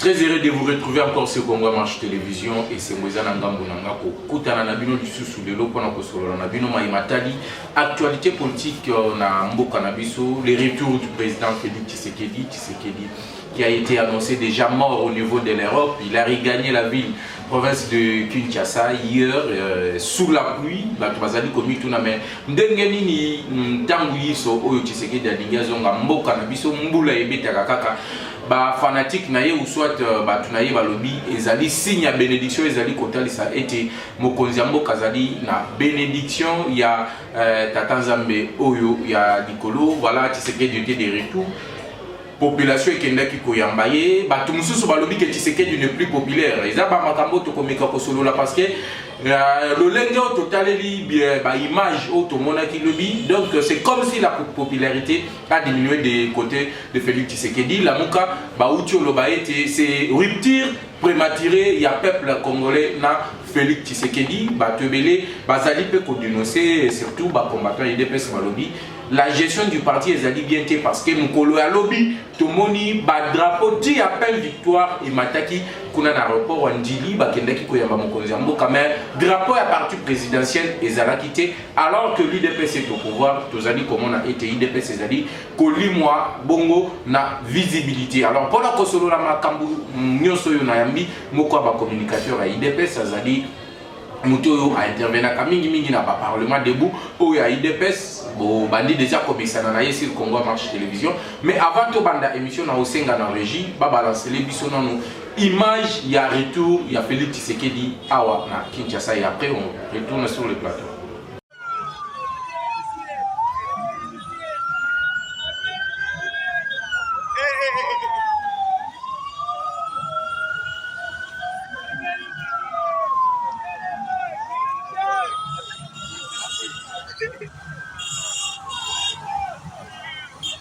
Très heureux de vous retrouver encore sur Congo Marche Télévision et c'est Moïse Nangambo Nanga kokutana na bino lisusu lelo mpona kosolola na bino mai matali actualité politique euh, na mboka na biso le retour du président Félix Tshisekedi Tshisekedi qui a été annoncé déjà mort au niveau de l'Europe il a regagné la ville province de Kinshasa hier euh, sous la pluie bato bazali komituna mais ndenge nini ntango yiso oyo Tshisekedi alingi azonga mboka na biso mbula ebetaka kaka ba fanatique na ye ou soit euh, bato na ye balobi ezali signe ya benediction ezali kotalisa ete mokonzi ya mboka azali na benediction ya euh, tata nzambe oyo ya likolo voilà tshisekedi ete de retour population ekendaki koyamba ye bato mosusu balobi ke tshisekedi ne plus populaire eza bamakambo tokomeka kosolola parce que euh, lolenge oyo totaleli baimage oyo tomonaki lobi donc c'est comme si la popularité ba diminuer de cote de Felix Tshisekedi lamuka bauti oloba ete c'est rupture prématurée ya peuple congolais na Felix Tshisekedi bato ebele bazali mpe kodenonse surtout bacombattant ya udps balobi la gestion du parti ezali bien te parce que mokolo ya lobi tomoni badrapo ti ya peine victoire emataki kuna na aéroport ya ndili bakendaki koyamba mokonzi ya mboka mais drapo ya parti présidentiel ezalaki te alors que l'idps est au pouvoir tozali komona ete idps ezali kolimwa bongo na visibilité alors mpona kosolola makambo nyonso oyo nayambi moko ya bacommunicateur ya idps azali moto oyo aintervenaka mingimingi na baparlement debout oyo ya idps bobandi deja komesana na ye sur congo marche télévision mais avant tobanda émission na osenga na régie babalancele biso nano Image ya retour ya Felix Tshisekedi awa na Kinshasa et après on retourne sur le plateau.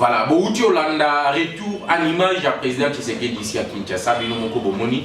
voilà bowuti olanda retour à l'image ya président tshisekedi isi ya kinshasa bino moko bomoni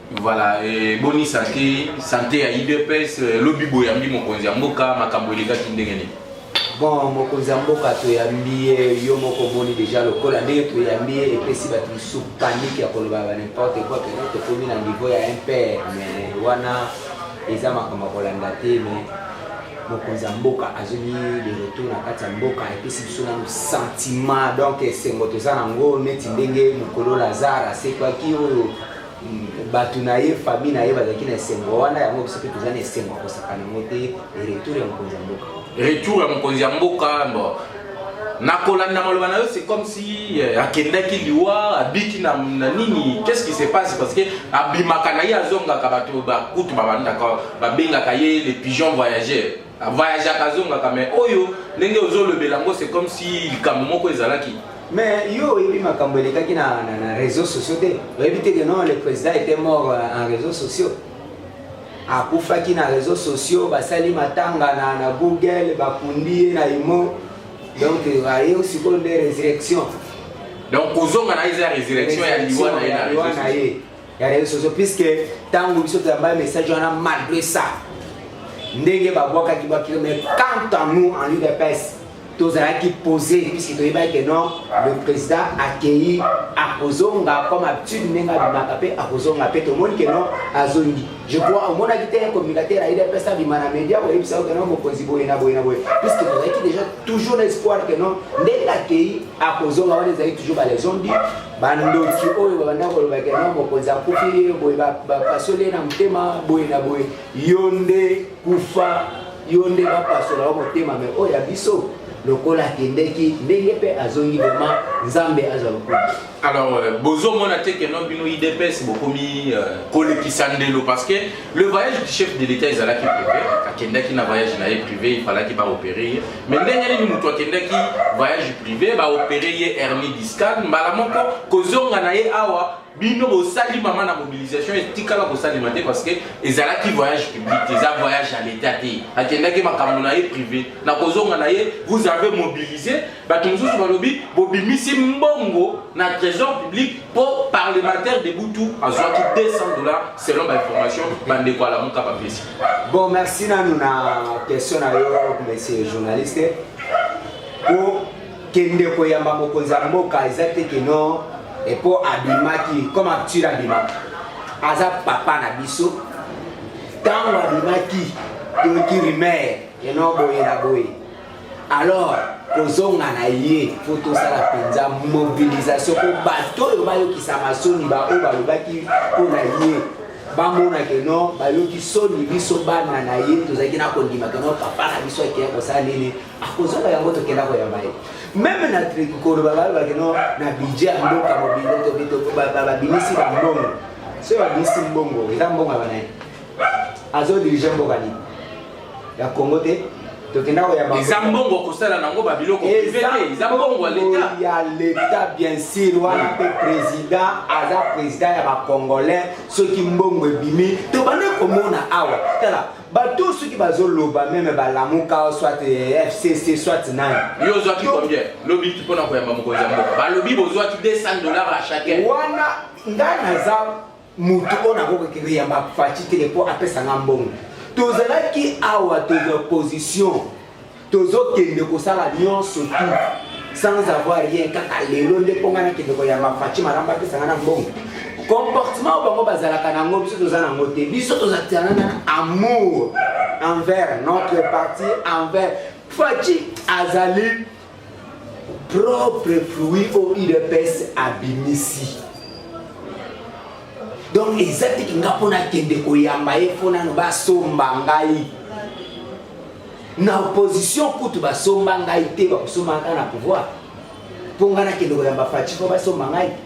Voilà, eh, boni sante sante ya udps eh, lobi boyambi mokonzi ya mboka makambo elekaki ndenge nini bon mokonzi ya mboka toyambi ye yo moko omoni deja lokola ndenge toyambi ye epesi bato mosusu panike ya koloba ba nimporte quoi pena tokomi na niveau ya impere mais wana eza makambo ya kolanda te mais mokonzi ya mboka azongi de retour na kati ya mboka epesi biso nano sentiment donc esengo toza nango neti ndenge mokolo lazare asekwaki oyo bato na ye famille na ye bazalaki na esengo wana yango biso mpe toza na esengo ya kosaka nango te retour ya mokonzi ya mboka retour ya mokonzi ya mboka bo na kolanda maloba na yo c'est comme si euh, akendaki liwa abiki na, na nini qu'est-ce qui se passe parce que abimaka na ye azongaka bato bakutu babandaka babengaka ye le pigeon voyageur A voyageaka azongaka mais oyo ndenge ozolobela yango c'est comme si likambo moko ezalaki. Mais yo oyebi makambo elekaki na, na, na réseaux sociaux te oyebi te que non le président était mort euh, en réseaux sociaux akufaki na réseaux sociaux basali matanga na, na google bakundi ye na imo donc aye sikoyo nde résurrection donc kozonga na ye eza résurrection ya liwa na ye na réseaux sociaux ya reseaux sociaux puisque ntango biso toyamba message wana malgré ça ndenge babwakaki bakilo mais quant à nous en udps tozalaki posé puisque toyebaki que non le président akeyi akozonga comme habitude ndenge abimaka mpe akozonga mpe tomoni que non azongi je crois omonaki te communicateur ya udps abima na média oyebisa yo que non mokonzi boye na boye na boye puisque tozalaki déjà toujours na espoir que non ndenge akeyi akozonga wana ezalaki toujours balezondi bandoki oyo babanda koloba ke na mokonzi akufi ye boye bapasoli ye na motema boye na boye yo nde kufa yo nde bapasola yo motema me oyo ya biso lokola akendeki ndenge mpe azongi vraimen nzambe azwa lokumu alors euh, bozomona te keno bino idps bokomi euh, kolekisa ndelo parce que Le voyage du chef de l'État ezalaki privé, akendaki na voyage na ye privé, il fallaki ba opérer ye. Mais ndenge nini moto akendaki voyage privé, ba opérer ye hernie discale, mbala moko kozonga na ye awa bino bosali mama na mobilisation etikala kosalema te parce que ezalaki voyage public te eza voyage ya leta te akendaki makambo na ye privé na kozonga na ye vous avez mobilise bato mosusu balobi bobimisi mbongo na trésor public mpo parlementaire de butu azwaki 200 dollars selon bainformation bandeko alamuka bapesi bon merci nanu na question na yo monsieur journaliste mpo kende koyamba mokonzi ya mboka eza te keno mpo abimaki comme acture abimaki aza papa na biso ntango abimaki toyoki rumeur eno boye na boye alors kozonga na ye mpo tosala mpenza mobilisation mpo bato oyo bayokisama soni baoyo balobaki mpo na ye bamona ke no bayoki soni biso bana na ye tozalaki na kondima ke no papa na biso akeya kosala nini akozonga yango tokenda koyamba ye meme na koloba balobake no na budget ya mboka mobinbabinisi bambongo soki babinisi mbongo eza mbongo ya banaye azodirige mboka nini ya congo te tokenda koyamba eza mbongo kosala nango babiloko prive te eza mbongo ya leta ya leta bien sûr wana mpe président aza président ya bacongolais soki mbongo ebimi tobandi komona awa tala bato soki bazoloba meme balamuka soit eh, fcc soit nani yo ozwaki combien lobi mpona koyamba mokonzi ya mboka balobi bozwaki 200 dollars à chacun wana ngai naza mutu oyo nakoki koyamba faci te mpo apesa nga mbongo tozalaki awa toza opposition tozokende kosala nyonso tu sans avoir rien kaka lelo nde mpo ngai nakende koyamba faci malamba apesa ngai na mbongo comportement oyo bango bazalaka na yango biso toza na yango te biso tozalaka na amour envers notre parti envers faci azali propre fruit au udps abimisi donc eza tiki nga mpo nakende koyamba ye mpo nano basomba ngai na opposition kutu basomba ngai te bakosombaka na pouvoir mpo ngai nakende koyamba faci mpo basomba ngai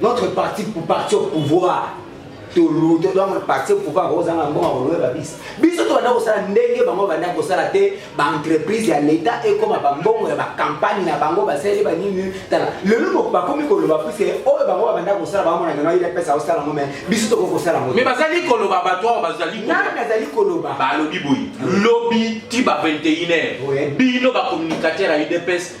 notre parti pour parti au pouvoir tolu to donc parti au pouvoir kozanga mbongo kolobe babisa biso tobanda kosala ndenge bango banda kosala te baentreprise ya leta ekoma bambongo ya bakampagne na bango basaleli banini tala lelo bakomi koloba puiske oyo bango babanda kosala bamona neno ayeli apesa kosala yango mai biso tokoki kosala yango mai bazali koloba bato awa bazali nani azali koloba balobi boye lobi ti ba 21 heure bino bacommunicateur ya udps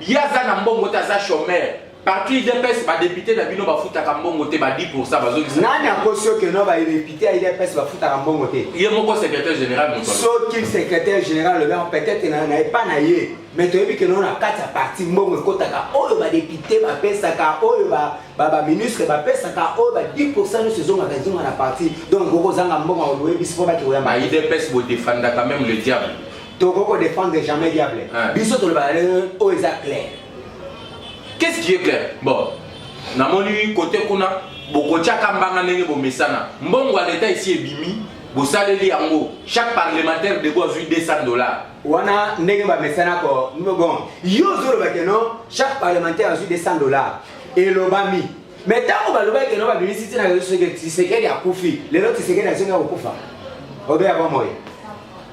Ye aza na mbongo te aza chomeur. Parti UDPS ba député na bino bafutaka mbongo te ba 10% bazongisa. Nani akosi yo que no ba député ya UDPS bafutaka mbongo te? Ye moko secrétaire général moto. Soki secrétaire général lobi yango peut-être na na epa na ye mais toyebi que no na kati ya parti mbongo ekotaka oyo ba député bapesaka oyo ba ba ba ministre bapesaka oyo ba 10% nyonso ezongaka ezonga na parti donc okozanga mbongo ya koyebisi mpo baki koyamba. Ba UDPS bo defendaka même le diable. toko ko défendre jamais diable biso tolobaka ndenge oyo eza clair qu'est-ce qui est clair bon namoni kote kuna bokotiaka mbanga ndenge bomesana mbongo ya leta esi ebimi bosaleli yango chaque parlementaire dego azwi 200 dollars wana ndenge bamesana ko bon yo ozoloba keno chaque parlementaire azwi 200 dollars elobami mais ntango balobaki keno babimisi ntina rezo soki tisekeli akufi lelo tisekeli azongi akokufa obeya bomoi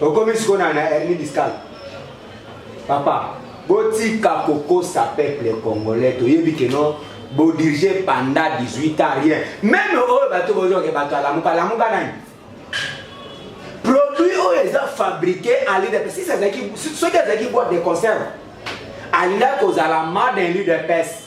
okomi sikoyo na hernie discale papa botika kokosa peuple congolais toyebi keno bodirige panda 18 ans rien meme oyo bato bozoke bato alamuka alamuka nani produit oyo eza fabriqué alida soki azalaki boite de conserve alinga kozala made en ludps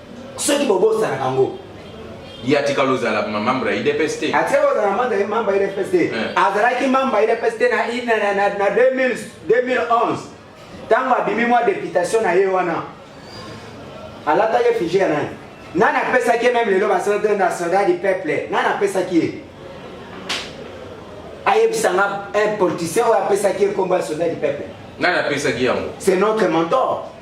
soki bobosanaka yango ye atikala ozala mambre ya idps te atikala ozala mambre ya mambre ya idps te eh. azalaki mambre ya idps te na 2011 ntango abimi mwa deputation na ye wana alataki efige ya nani nani apesaki ye meme lelo basoldat na soldat du peuple nani apesaki ye ayebisa nga un politicien oyo apesaki ye nkombo ya soldat du peuple nani apesaki yango c'est notre mentor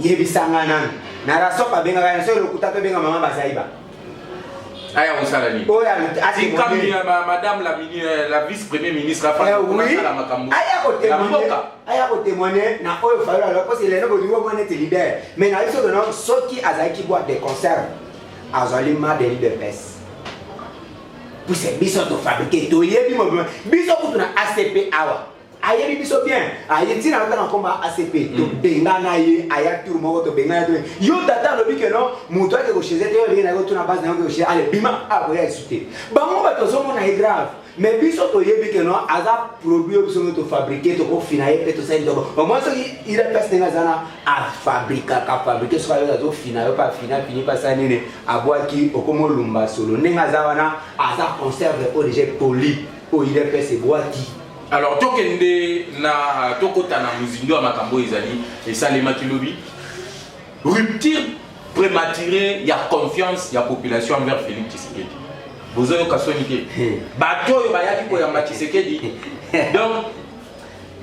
yebisanga nanu na rasop abengaka ya soki lokuta tobenga mama bazaiba aya kosala nini oyo atikami ya madame la, euh, la vice premier ministre afasala eh makambo ya mboka aya kotemoigne na oyo fayolo aloba mposi eleno bolingi omwa neti leader mais na biso tono soki azalaki boite de concert azali madeli de pese puse biso tofabrike toyebi mobima biso kutu na acp awa ayebi biso bien aye ntina yo ntanga koma acp mm. tobengana ye aya tour moko tobengana ye yo tata alobi ke non moto ake kocheze te olenge naye otuna base nayo kocheze ale bima akoya ah, esu te bango bato ozomona ye grave mais biso toyebi ke non aza produit oyo biso nde tofabrike tokofina ye mpe tosali toko omoi soki ila place ndenge aza na afabrikaka fabrike soki ayo azofina yo mpe afina fini mpe asala nini abwaki okomolumba solo ndenge aza wana aza conserve oyo deja poli oyo ila place ebwaki Alors tokende na tokota na mozindo ya makambo oyo ezali esalemaki lobi rupture prématurée ya confiance ya population envers Félix Tshisekedi bozoyoka soni te hmm. bato oyo bayaki koyamba Tshisekedi donc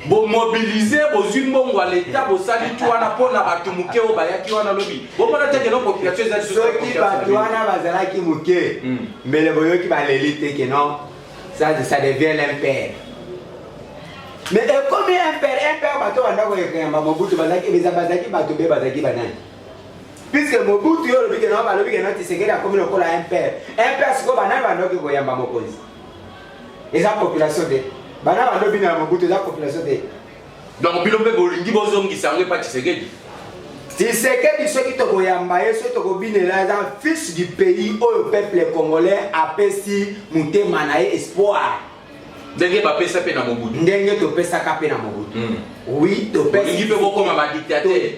bomobilize bozwi mbongo ya leta bosali ti wana mpo na bato moke oyo bayaki wana lobi bomona te keno population ezali soki bato wana bazalaki moke hmm. mbele boyoki baleli te keno Ça, ça devient l'impère. Mais ekomi impère, impère bato banda koyekeyamba Mobutu bazalaki beza bazalaki bato be bazalaki banani. Puisque Mobutu yo olobi ke na balobi ke na Tshisekedi akomi lokola impère. Impère siko banani bandoki koyamba mokonzi. Eza population te. Bana bandobi na Mobutu eza population te. Donc bino mpe bolingi bozongisa yango epa Tshisekedi Tshisekedi soki tokoyamba ye soki tokobinela eza fils du pays oyo peuple congolais apesi motema na ye espoir ndenge bapesa mpe na mobutu ndenge topesaka mpe na mobutu mm. oui topesi mpe bokoma badictateur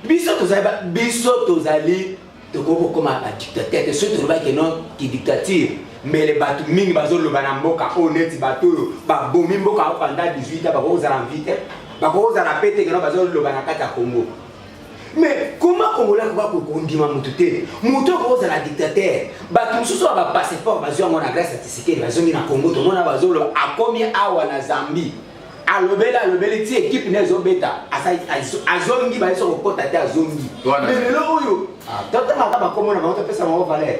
biso tozali ba- biso tozali tokoki kokoma badictateur te soki tolobaki no kidictature mbele bato mingi bazoloba na mboka oyo neti bato oyo babomi mboka yango panda 18 a bakoki kozala mvi te bakoki kozala mpe te keno bazoloba na kati ya kongo me koma kongola akoka ko- kondima motu te motu akoki kozala dictateur bato mosusu ya bapasseport bazwi yango na grâce ya tisikeli bazongi na kongo tomona bazoloba akomi awa na zambie alobeli alobeli ti ekipe nde ezobeta azongi bayesa kokota te azongi me lelo oyo ah, totangaka bakomo na bango topesa bango valeur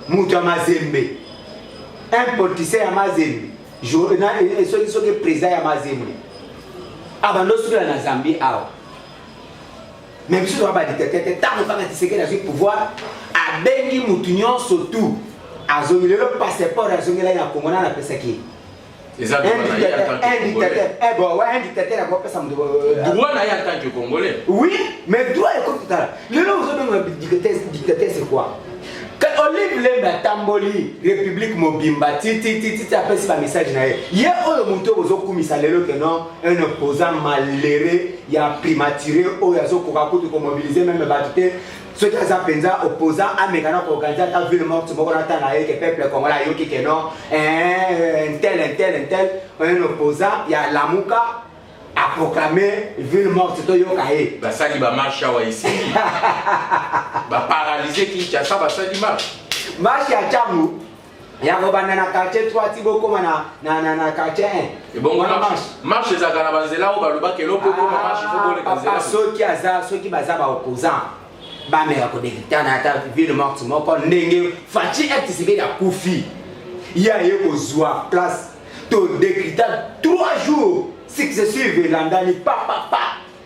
moto ya mazembe un politicien ya mazembe eh, eh, soki soki président ya mazembe abanda ah, osukela na zambie awa me biso toa badictateur te ntango kaka tisekeli azwi pouvoir abengi motu nyonso tu azongi lelo passeport azongela ye na kongo nana apesaki ye eza droit na ye en tant que congolais eh bon ouais un dictateur ako pesa moto droit na ye en tant que congolais oui mais droit eko tala lelo ozo benga dictateur dictateur c'est quoi olive lembe atamboli république mobimba titititi apesi bamessage na ye ye oyo moto oyo ozokumisa lelo ke non un opposant malere ya primature oyo azokoka kutu komobilize meme bato te soki aza mpenza opposant ameka na koorganize ata ville morte moko na tanga ye ke peuple congolais ayoki ke non eh, ntel ntel ntel un opposant ya lamuka aproklame ville morte toyoka ye basali bamarche awa esili baparalyse kinshasa basali marche marche ya ntango ya kobanda na quartier 3 ti bokoma na, na, na, na quartier 1 ebongo na marche marche ezalaka na banzela oyo balobaka eloko ekoma ah, marche fokoleka nzela soki aza soki baza baopposant bameka kodekitana ata ville morte moko ndenge faci etisekeli akufi ye aye kozwa place todekita 3 jours successive elandani papapa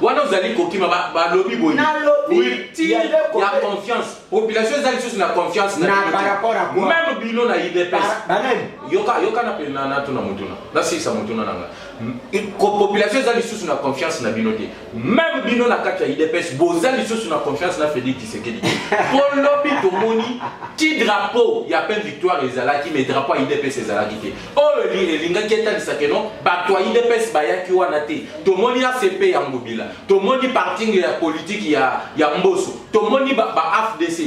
wana ozali kokima balobi boye ya confiance population eza lisusu na confiance meme bino na idps yoka na pena natuna motuna nasilisa motuna na nga population eza lisusu na confiance na bino te meme bino na kati ya idps boza lisusu na confiance na félix tisekedi mpo lobi tomoni ti drapeau ya pen victoire ezalaki mais drapeau ya idps ezalaki te oyo elingaki etalisa ke no bato ya idps bayaki wana te tomoni acp ya ngobila tomoni parking ya politiki ya, ya mboso tomoni baafdc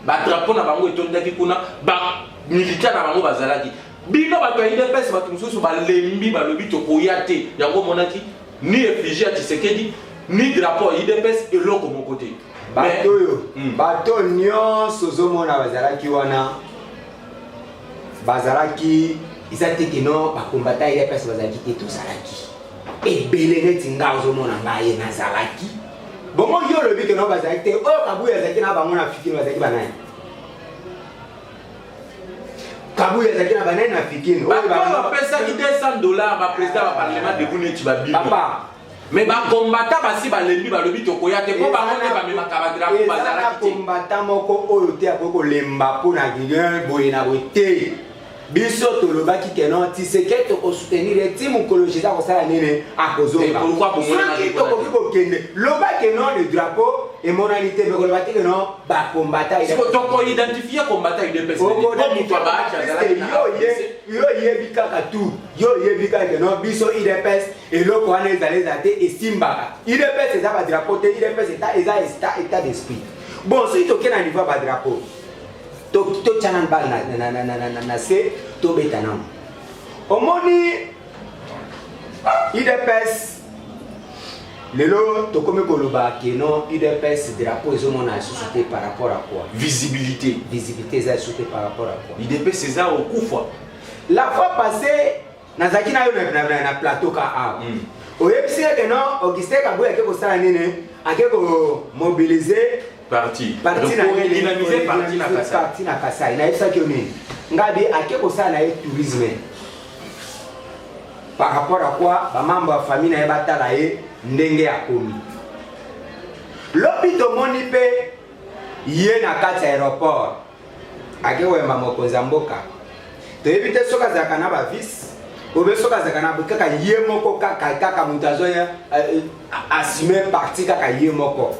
ba badrapo na bango etondaki kuna bamilita na bango bazalaki bino bato ya idps bato mosusu balembi balobi tokoya te yango omonaki ni efigi ya tshisekedi ni drapo ya idps eloko moko te bato oyo hmm. bato nyonso ozomona bazalaki wana bazalaki eza te kino bakombata ye place bazalaki te tozalaki ebele neti nga ozomona ngaye nazalaki bongo yo olobi kino bazalaki te oyo kabuya azalaki na bango na fikino bazalaki banani kabuya azalaki na banani na fikino oyo bapesaki 200 dollars baprésident ya baparlement debout neti babino Mais ba combattant basi balembi balobi tokoya te po bango nde bamemaka ba drapeau bazalaki te. Combattant moko oyo te akoki kolemba mpo na rien boye na boye te. biso tolobaki ke non tiseke tokosoutenir ye ti mokolo jésus akosala nini akozongasoki tokoki kokende loba ke non le drapeau emonani te mekoloba te ke non bakombataoidentifie kombata yo oyebi kaka tu yo oyebi kaka ke non biso idps eloko wana ezala ezala te esimbaka udps eza badrapo te udps eza esta etat d'esprit bon soki toke na niveau ya badrapo totya nanu bale na se tobeta nanu omoni udps lelo tokomi koloba keno udps drapo ezomona lisusu te par rapport à quoi visibilité visibilité eza lisusu te par rapport à quoi udps eza okufa la fois passée nazalaki nayo na plateau ka awa mm. oyebisi ye ke non augustin kabuya ake kosala nini ake komobilize parti na kasai nayebisaki yo nini ngabi ake kosala na ye tourisme par rapport à quoi bamambo ya famille na ye batala ye ndenge akomi lobi tomoni mpe ye na kati ya aéroport ake koyamba mokonzi ya mboka toyebi te soki azalaka na bavice obe soki azalaka na kaka ye moko kaka kaka moto azoya eh, assume parti kaka ye moko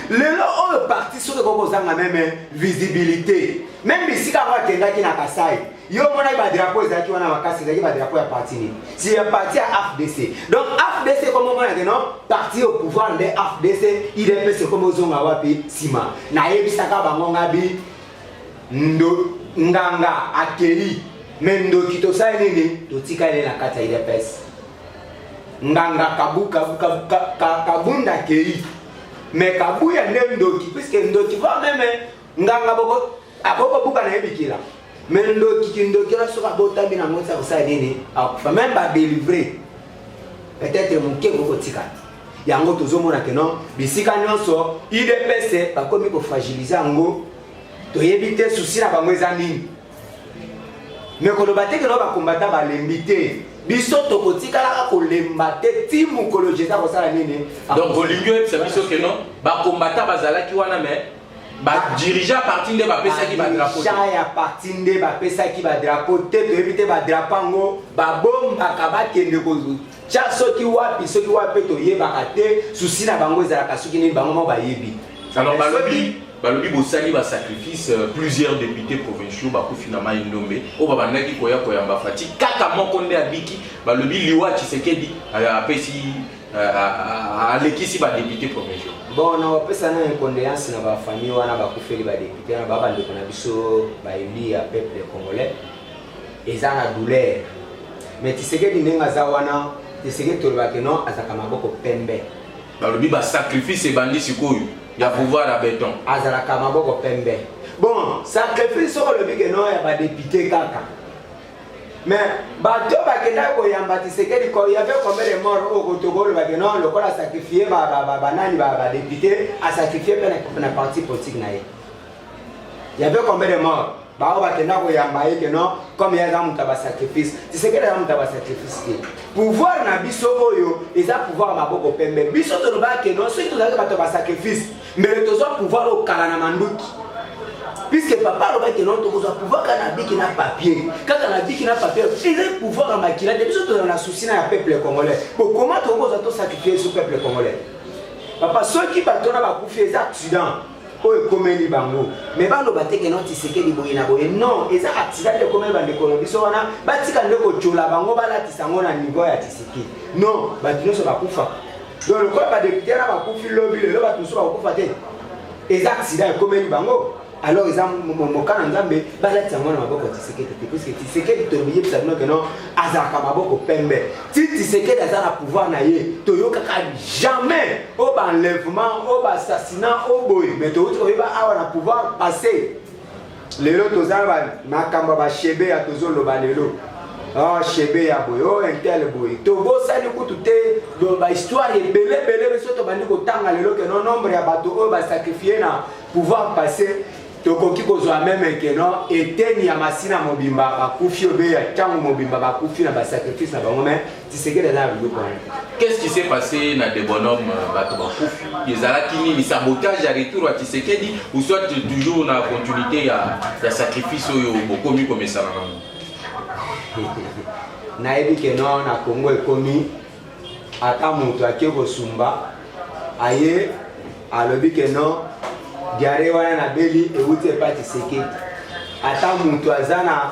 lelo oyo parti soki ekoki kozanga meme visibilité meme bisika yango akendaki na kasai yo omonaki badrapo ezalaki wana makasi ezalaki badrapo ya parti nini si ya parti ya afdc donc afdc ekomi omonake no parti au pouvoir nde afdc idps ekomi ozonga wapi nsima nayebisaka bango ngabi ndo nganga akei me ndoki tosali nini totikali na kati ya idps nganga kabu, kabu, kabu, kabu, kabunda akei me kabuya nde ndoki puiske ndoki va meme nganga boko akoki kobuka na ye bikila me ndoki kindoki wana soki abotami na yango ti akosala nini akufa meme badelivre peut-être moke ekoki kotika yango tozomona ke non bisika nyonso udps bakomi kofragilize yango toyebi te susi na bango eza nini me koloba te keno bakombata balembi te biso tokotikalaka kolemba te ti mokolo jeza kosala nini donc olingi oyebisa biso keno bakombata bazalaki wana me ba dirigeant parti nde bapesaki ba drapeau dirigeant ya parti nde bapesaki ba drapeau te toyebi te ba drapeau yango babombaka bakende kotya soki wapi soki wapi mpe toyebaka te susi na bango ezalaka soki nini bango moko bayebi alors balobi balobi bosali ba sacrifice euh, plusieurs députés provinciaux bakufi na mai ndombe oyo babandaki koya koyamba fati kaka moko nde abiki balobi liwa tshisekedi euh, apesi alekisi ba député premier jour bon na opesa na condoléance na ba famille wana ba kufeli ba député na ba bandeko na biso ba élu ya peuple congolais eza na douleur mais tisekedi ndenge aza wana tisekedi tolobaki non azalaka maboko pembe balobi ba sacrifice ebandi sikoyo ya pouvoir ya beton azalaka maboko pembe bon sacrifice soko olobi ke non ya ba député kaka mais bato bakendaki koyamba tisekedi ko yave combien de mort oyo kotoka olobaki non lokola asacrifie banani badepute asacrifie mpe na parti politique na ye yave combien de mort baoyo bakenda koyamba ye ke non comme ye aza moto ya basacrifice tisekedi aza moto ya basacrifice te pouvoir na biso oyo eza pouvoir ya maboko pembe biso tolobaki ke non soki tozalaki bato ya basacrifice mbele tozwa pouvoir oyo kala na manduki puisque papa alobaki non tokozwa pouvoir kaka na biki na papier kaka na biki na papier ezali pouvoir ya makila te biso tozala na souci na ya peuple congolais bokoma tokozwa tosacrifie so peuple congolais papa soki bato wana bakufi eza accident oyo ekomeli bango me baloba te keno tisekeli boye na boye non eza accident nde ekomeli bandeko na biso wana batika nde kotyola bango balatisa yango na niveau ya tisekeli non bato nyonso bakufa donc lokola badepute wana bakufi lobi lelo bato mosusu bakokufa te eza aksida ekomeli bango alors eza moka na nzambe balatisa yango na maboko ya tisekedi te puiske tisekedi toyebisa bino ke non azalaka maboko pembe ti tisekedi aza na pouvoir na ye toyokaka jamais o baenlèvement o baassassinat o boye mais towuti koyeba awa na pouvoir passé Lelo toza ba makambo ba shebe ya tozo loba lelo. Oh shebe ya boye, oh intel boye. Tobosani kutu te ba histoire ebele ebele biso tobandi kotanga lelo ke no nombre ya bato oyo ba sacrifier na pouvoir passer tokoki kozwa meme ke no eteni ya masina mobimba bakufi obe ya ntango mobimba bakufi na basacrifice na bango me Tshisekedi aza na biloko wana. Qu'est-ce qui s'est passé na de bonhomme euh, bato bakufi ezalaki nini sabotage ya retour ya Tshisekedi ou soit toujours na continuité ya, ya sacrifice oyo bokomi komesana nango nayebi ke no na Congo ekomi ata moto ake kosumba aye alobi ke no diare wana na beli euti epa Tshisekedi ata moto aza na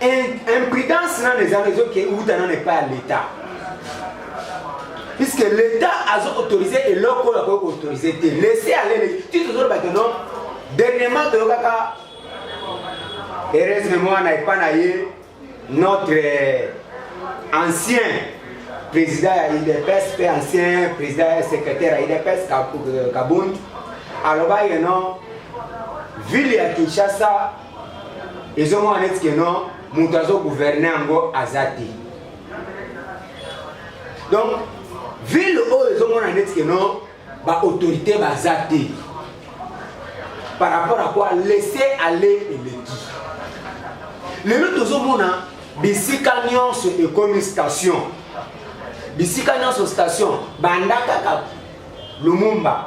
imprudence nano ezanga ezoke uta nano epai ya leta puisque leta azo autorise eloko oyo akoki koautorise te laisse alele ti tozoloba ke non dernièrement toyokaka heureusement mwana epai na ye notre euh, ancien président ya idps mpe ancien président ya secrétaire ya idps kabund alobaki non ville ya kinshasa ezomona neti ke non moto azo gouverne yango aza te donc ville oyo ezomona neti ke non baautorité baza te par rapport à quoi laisser aller eleki lelo tozomona bisika nyonso ekomi station bisika nyonso station banda kaka lumumba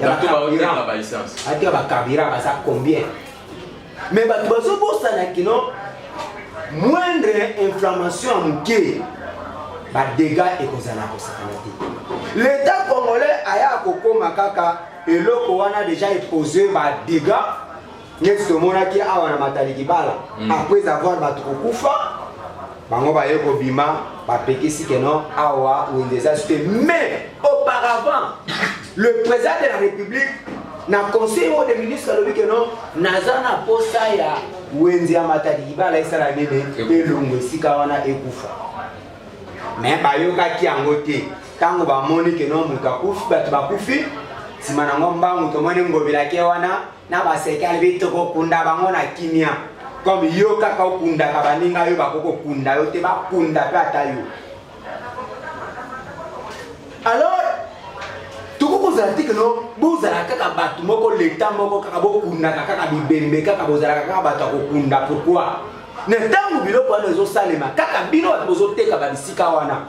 bato baoteka ba essence ateka ba carburant baza combien mais bato bazobosana kino moindre inflammation ya moke badega ekozala kosakana te leta congolais aya kokoma kaka eloko wana deja epose badega neti tomonaki awa na matali kibala mm. après avoir bato kokufa bango baye kobima bapekisi keno awa wende eza sute mais auparavant le président de la république na conseil moko de ministre alobi keno naza na posa ya wenze ya matadi libala esala nini elongo esika wana ekufa me bayokaki yango te ntango bamoni keno moto akufi bato bakufi nsima nango mbangu tomoni ngobelake wana na baseki alobi tokokunda bango na kimia comme yo kaka okundaka baninga yo bakoki kokunda yo te bakunda mpe ata yo alors tokoki kozala te keno bozala kaka bato moko leta moko kaka bokundaka kaka bibembe kaka bozalaka kaka bato ya kokunda pourkoi na ntango biloko wana ezosalema kaka bino bato bozoteka babisika wana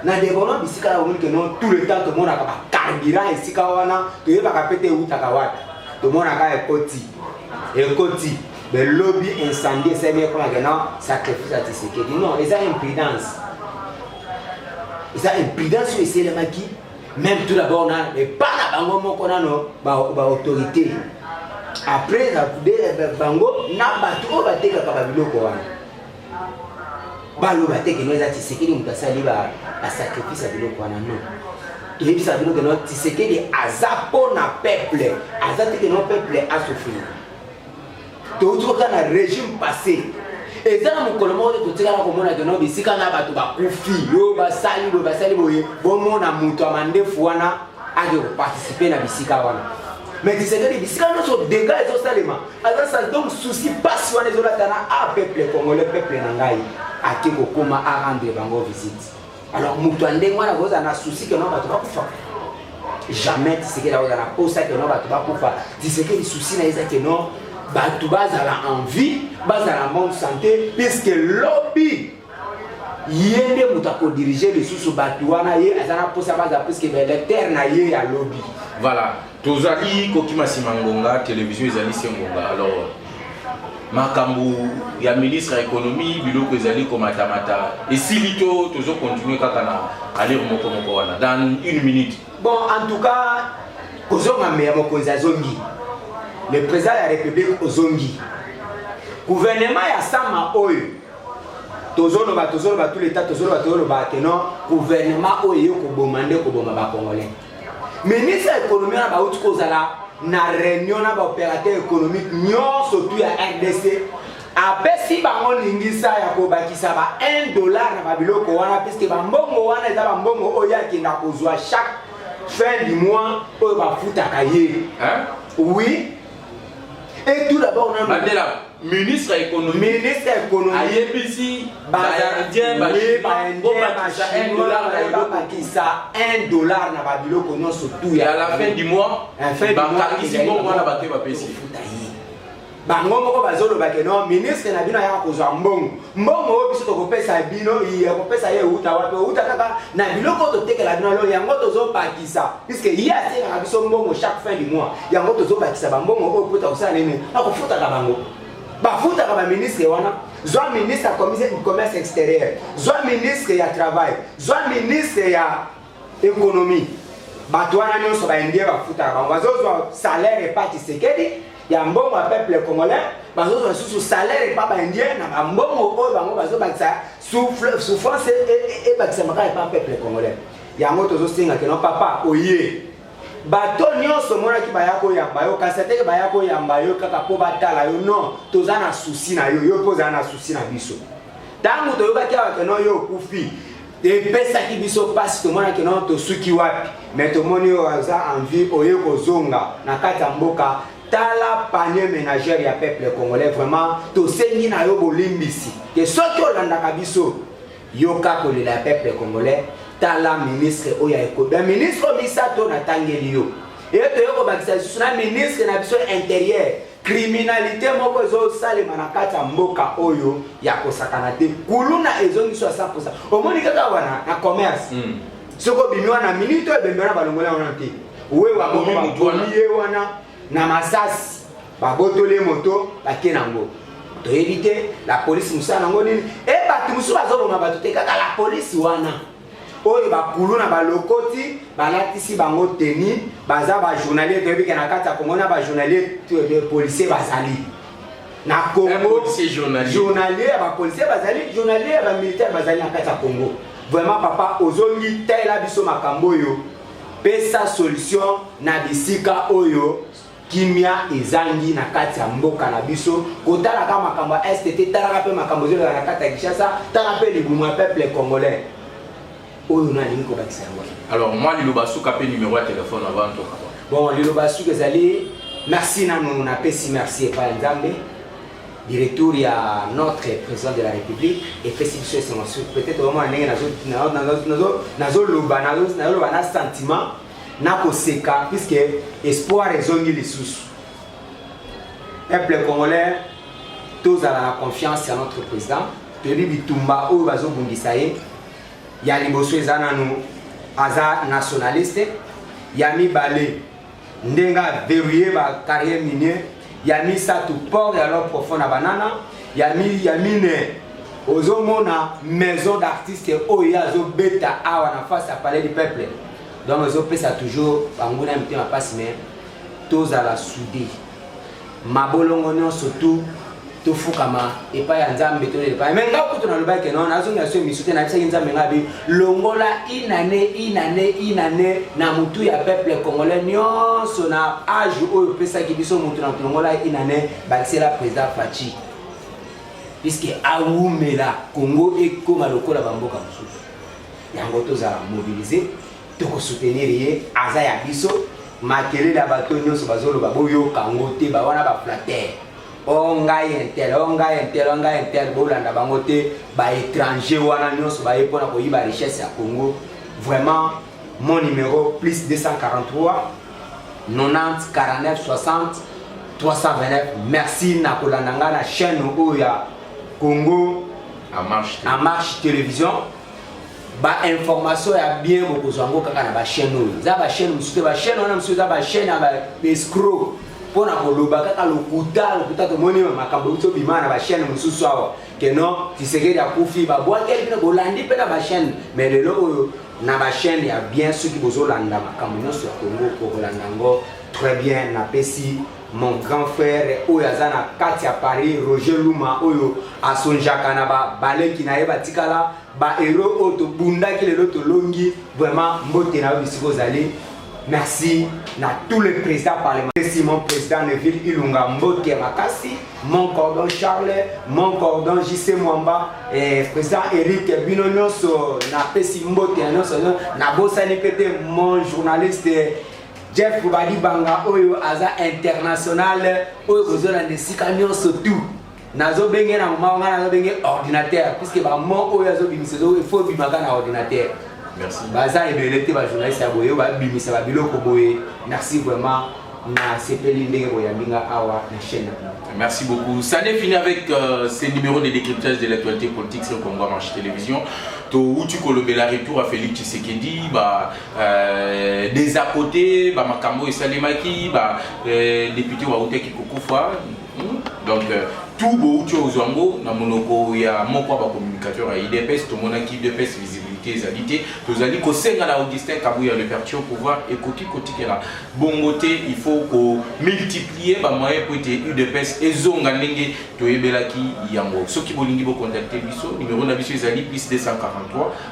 na development bisika ya omoni keno tout le temps tomonaka bakandira esika wana toyebaka mpe te ewutaka wapi tomonaka ekoti ekoti belobi incendie esali ekolaka keno sacrifice ya tisekedi non eza impudence eza impudence oyo eselemaki même tout d'abord na epa na bango moko nano baautorité ba après bango na bato oyo batekaka babiloko wana baloba te keno eza tisekedi moto asali basacrifice ya biloko wana no toyebisaka bino keno tisekedi aza mpo na peuple aza te keno peuple asofrire touti kota na régime passé eza na mokolo moko te totikala komona keno bisika na bato bakufi oyo basali boye basali boye bomona moto ya mandefu wana ake koparticipe na bisika wana mais tisekedi bisika nyonso dega ezosalema aza sali donc souci pasi wana ezolata na a peuple congolais peuple na ngai ake kokoma a rendre bango visite alors moto ya ndenge wana kozala na souci keno bato bakufa jamais tisekeli akozala na posa keno bato bakufa tisekeli souci na eza keno bato bazala en vie bazala bonne santé puisque lobi ye nde moto akodirige lisusu bato wana ye aza na mposa baza puiske baelecteur na ye ya lobi voilà tozali kokima nsima ngonga televizio ezali se ngonga alors makambo ya ministre ya ekonomi biloko ezali komatamata esili to tozokontinue kaka na alire moko moko wana dans une minute bon en tout cas kozonga meya mokonzi azongi le président ya république ozongi gouvernement ya sama oyo tozoloba tozoloba tout leta tozoloba tozoloba ke non gouvernement oyo eye koboma nde koboma bacongolais ministre ya économie wana bauti kozala na réunion na baopérateur économique nyonso tu ya rdc apesi bango lingisa ya kobakisa ba 1 dollar na babiloko wana puiske bambongo wana eza bambongo oyo akenda kozwa chaque fin du mois oyo bafutaka ye oui et tout d'abord nanu ministre ya économie ministre ya économie ayebisi baindien babakisa 1 dollar na eloko bakisa 1 dollar na babiloko nyonso tout ya la fin du mois bakangisi mbongo wana bato bapesi bango moko bazolobake no ministre na bino ayaka kozwa mbongo mbongo oyo biso tokopesa bino iye kopesa ye euta wapi euta kaka na biloko oyo totekela bino alo yango tozobakisa puiske ye atekaka biso mbongo chaque fin du mois yango tozobakisa bambongo oyo mpo takosala nini akofutaka bango bafutaka baministre wana zwa ministre ya commerce extérieur zwa ministre ya travail zwa ministre ya Economie. Bato wana nyonso ba Indien bafutaka bango, bazozwa salaire epa Tshisekedi ya mbongo ya peuple congolais, bazozwa lisusu salaire epa ba Indien na ba mbongo oyo bango bazobakisa souffrance ebakisamaka epa peuple congolais. Yango tozosenga keno papa oye bato nyonso omonaki baya koyamba yo kasi ateke baya koyamba yo kaka mpo batala yo non toza na susi na yo yo mpe ozala na susi na biso ntango toyokaki awa keno yo okufi epesaki biso mpasi tomonaki no tosuki wapi me tomoni oyo aza envie oye kozonga na kati ya mboka tala panier ménagère ya peuple congolais vraiment tosengi na yo bolimbisi ke soki olandaka biso yoka kolela ya peuple congolais tala ministre oyo ayekoba ministre misato natangeli yo eye toye kobakisa lisusu na ministre na biso interieur Criminalite moko ezo salema na kati ya mboka oyo ya kosakana te. Kuluna ezo ngiso ya 100%. Omoni kaka wana na commerce. Mm. Soko bimi wana minute oyo bembe wana balongola wana te. Uwe wa bomi mutu wana. Ye wana na masasi. Babotole moto batie nango. Toyebi te la police musala nango nini? E bato mosusu bazoboma bato te kaka la police wana. oyo bakulu na balokoti balatisi bango teni baza bajournalier toyebi ke na kati ya kongo na bajournalier policier bazali na kongo journalier ya bapolicier bazali journalier ya bamilitaire bazali na kati ya kongo vraiment papa ozongi talela biso makambo oyo pesa solution na bisika oyo kimia ezangi na kati ya mboka na biso kotalaka makambo ya este te talaka mpe makambo ezoleka na kati ya kinshasa tala mpe libumu ya peuple congolais oyo nalingi kobakisa yango alors mwa liloba suka mpe numero ya telefone avant toka bon liloba suka ezali merci nanu napesi merci epai ya nzambe directeur ya notre président de la république epesi biso esengo sur peut-être omona ndenge nazoloba nazoloba na sentiment nakoseka puisque espoir ezongi lisusu peuple congolais tozala na confiance ya notre président toyebi bitumba oyo bazobundisa ye ya liboso eza nanu aza nationaliste ya mibale ndenge averie ba carrière minier ya misato port ya l'homme profond na banana ya, mi, ya mine ozomona maison d'artiste oyo ye azobeta awa na face ya palais du peuple donc ezopesa toujours banguna ya mitema mpasi mais tozala soude mabolongo nyonso tout tofukama epai ya nzambe tolela epai me nga kutu nalobaki ke non nazongi na so emisu te nayebisaki nzambe nga bi longola inane inane inane na motu ya peuple congolais nyonso na age oyo opesaki biso motu na tolongola inane bakisela président faci puiske awumela congo ekoma lokola bamboka mosusu yango tozala mobilise tokosoutenir ye aza ya biso makelele ya bato nyonso bazoloba boyoka yango te bawana baflatere o ngai intel o ngai intel o ngai intel bolanda bango te baétranger wana nyonso baye mpona koyiba richesse ya congo vraiment mon numéro plus 243 90 49 60 329 merci na kolanda ngai na chaîne oyo ya congo en marche télévision ba information ya bien bokozwa yango kaka na bachaine oyo eza bachaine mosusu te bachaine wana mosusu eza bachaine ya baescro mpo na koloba kaka lokuta lokuta tomoni makambo euti obima na bachaine mosusu awa ke non tisekedi akufi babwakeli bino bolandi mpe na bachaine mais lelo oyo na bachaine ya bien soki bozolanda makambo nyonso ya kongo bokolanda yango très bien napesi Mon grand frère oyo aza na kati ya Paris Roger Luma oyo asonjaka na ba baleki na ye batikala ba héros oyo tobundaki lelo tolongi vraiment mbote na yo bisika ozali Merci na tous les présidents parlementaires. Si mon président Neville Ilunga Mbote Makassi, mon cordon Charles, mon cordon JC Mwamba, et eh, président Eric Bino Nyoso, na Pessi Mbote Nyoso, na Bossani Pete, mon journaliste Jeff Kobadi Banga oyo aza international oyo kozona na esika nyonso tout nazobenge na moma wana nazobenge ordinateur puiske bamo oyo azobimisa efo ebimaka na ordinateur baza ebele te bajournaliste ya boye babimisa babiloko boye merci vraiment nasepeli ndenge boyambi nga awa na chaîne na bino Merci beaucoup. Ça n'est fini avec euh, ces numéros de décryptage de l'actualité politique sur Congo Marche Télévision. To Utu Kolobela retour à Félix Tshisekedi, bah, Euh, des à côté bamakambo oyo esalemaki badepute euh, bautaki kokufa hmm? donc euh, tout bouti ozwa yango na monoko ya moko ya bacommunicateur ya idps tomonaki idps visibilité ezali te tozali kosenga na augustin kabuya le perture pouvoir ekoki kotikela bongo te il faut komultiplier bamoyen mpo ete udps ezonga ndenge toyebelaki yango soki bolingi bokontakte biso numero na biso ezali plus 243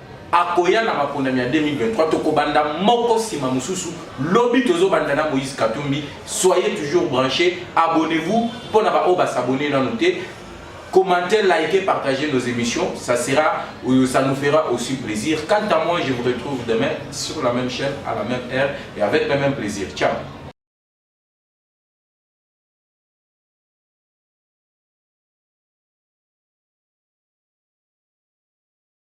akoya na maponami ya 2023 tokobanda moko nsima mosusu lobi tozobanda na moïse katumbi soyez toujours branché abonnez-vous mpo na baoyo basabone nano te commentez likez partagez nos émissions ça sera euh, ça nous fera aussi plaisir quant à moi je vous retrouve demain sur la même chaîne à la même heure et avec le même plaisir ciao